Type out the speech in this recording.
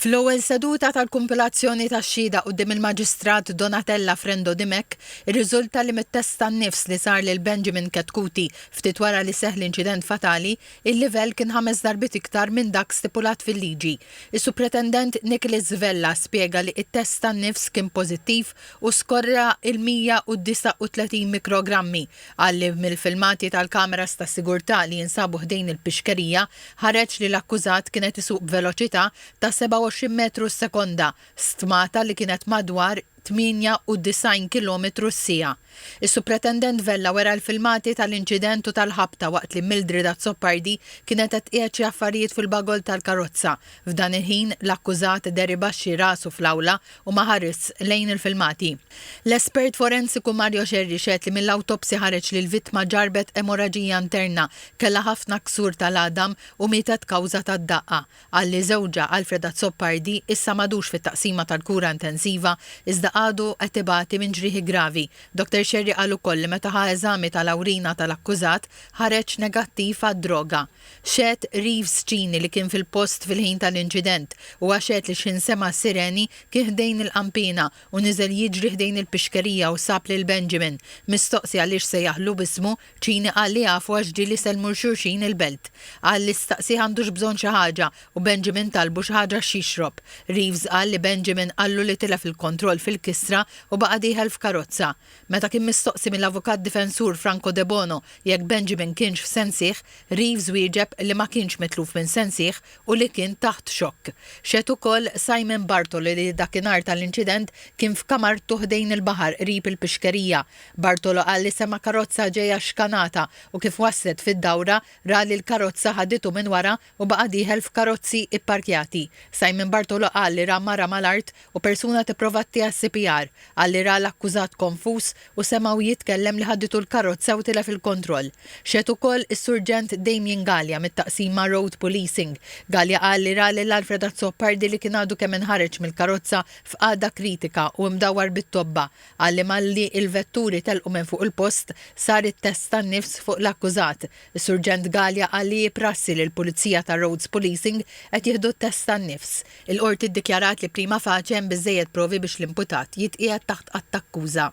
Fl-ewwel seduta tal-kumpilazzjoni tax-xhieda quddiem il-Maġistrat Donatella Frendo Dimech, irriżulta li mit-test tan-nifs li sar lil Benjamin Chetcuti ftit wara li seħħ l-inċident fatali, il-livell kien ħames darbiet iktar minn dak stipulat fil-liġi. Is-Supretendent Nicholas Vella spjega li t-test tan-nifs kien pożittiv u skorra l-139 mikrogrammi, Qal li mill-filmati tal-kameras tas-sigurtà li jinsabu ħdejn il-pixkerija ħareġ li l-akkużat kien qed isuq b'veloċità ta' 27 metru s-sekonda, stmata li kienet madwar 98 kilometru s-siegħa. Is-Supretendent Vella wera l-filmati tal-inċident u tal-ħabta waqt li Mildred Azzopardi kienet qed tqiegħed xi affarijiet fil-bagol tal-karozza. F'dan il-ħin, l-akkużat deribaxxi rasu fl-awla u ma ħarisx lejn il-filmati. L-espert forensiku Mario Scerri xehed li mill-awtopsja ħareġ li l-vittma ġarrbet emoraġija interna, kellha ħafna ksur tal-għadam u mietet kawża tad-daqqa. Qal li żewġha, Alfred Azzopardi, issa m'għadux fit-taqsima tal-kura intensiva, iżda għadu qed ibati minn ġrieħi gravi. Dottor Scerri qal ukoll li meta ħa eżami tal-awrina tal-akkużat, ħareġ negattiv għad-droga. Xehed Reeves Cini li kien fil-post fil-ħin tal-inċident. Huwa xehed li x'ħin sema' s-sireni, kien ħdejn il-qanpiena u niżel jiġri ħdejn il-pixkerija u sab lil Benjamin. Mistoqsi għaliex sejjaħlu b'ismu, Cini qal li jafu għax ġieli jsellmu 'l xulxin il-belt. Qal li staqsieh għandux bżonn xi ħaġa u Benjamin talbu xi ħaġa x'jixrob. Reeves qal li Benjamin qallu li tilef il-kontroll fil-kisra u baqa' dieħel f'karozza. Meta kien mistoqsi mill-avukat difensur Franco Debono jekk Benjamin kienx f'sensih, Reeves wieġeb li ma kienx mitluf minn sensih u li kien taħt xokk. Xehed ukoll Simon Bartolo li dakinhar tal-inċident kien f'kamartu ħdejn il-baħar qrib il-pixkerija. Bartolo qal li sema' karozza ġejja xkanata u kif waslet fid-dawra ra li l-karozza ħaditu minn wara u baqa' dieħel f'karozzi ipparkjati. Simon Bartolo qal li ra mara mal-art u persuna tipprova ttiha s-CPR. Qal li ra l-akkużat konfuż u semgħu jitkellem li ħadditu l-karozza u tilef il-kontroll. Xehed ukoll is-Surġent Damien Galea mit-Taqsima Road Policing. Galea qal li ra lil Alfred Azzopardi li kien għadu kemm inħareġ mill-karozza f'qagħda kritika u imdawwar bit-tobba. Qal li malli il-vetturi telqu minn fuq il-post, sar it-test tan-nifs fuq l-akkużat. Is-Surġent Galea qal li hi prassi li l-Pulizija ta' Roads Policing qed jieħdu t-test tan-nifs. Il-Qorti ddikjarat li prima facie hemm biżżejjed provi biex l-imputat jitqiegħed taħt att-akkuża.